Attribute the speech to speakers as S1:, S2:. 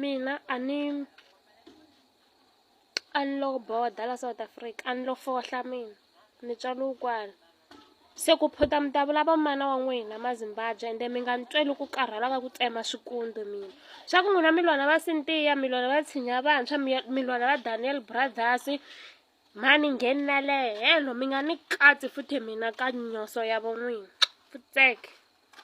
S1: Mina a ni a ni lo border la South Africa a ni lo fohla mina ni tswariwe kwala se ku phota mi ta vulava mana wa n'wina ma Zimbabwe ende mi nga ni tweli ku karhala ka ku tsema swikontsi mina swa ku n'wina mi lwana va Sintiya mi lwana va tshinya vantshwa mi ya mi lwana va Daniel brothers mhani ngheni na le helo mi nga ni katsi futhi mina ka nyoso ya vo n'wina futseke.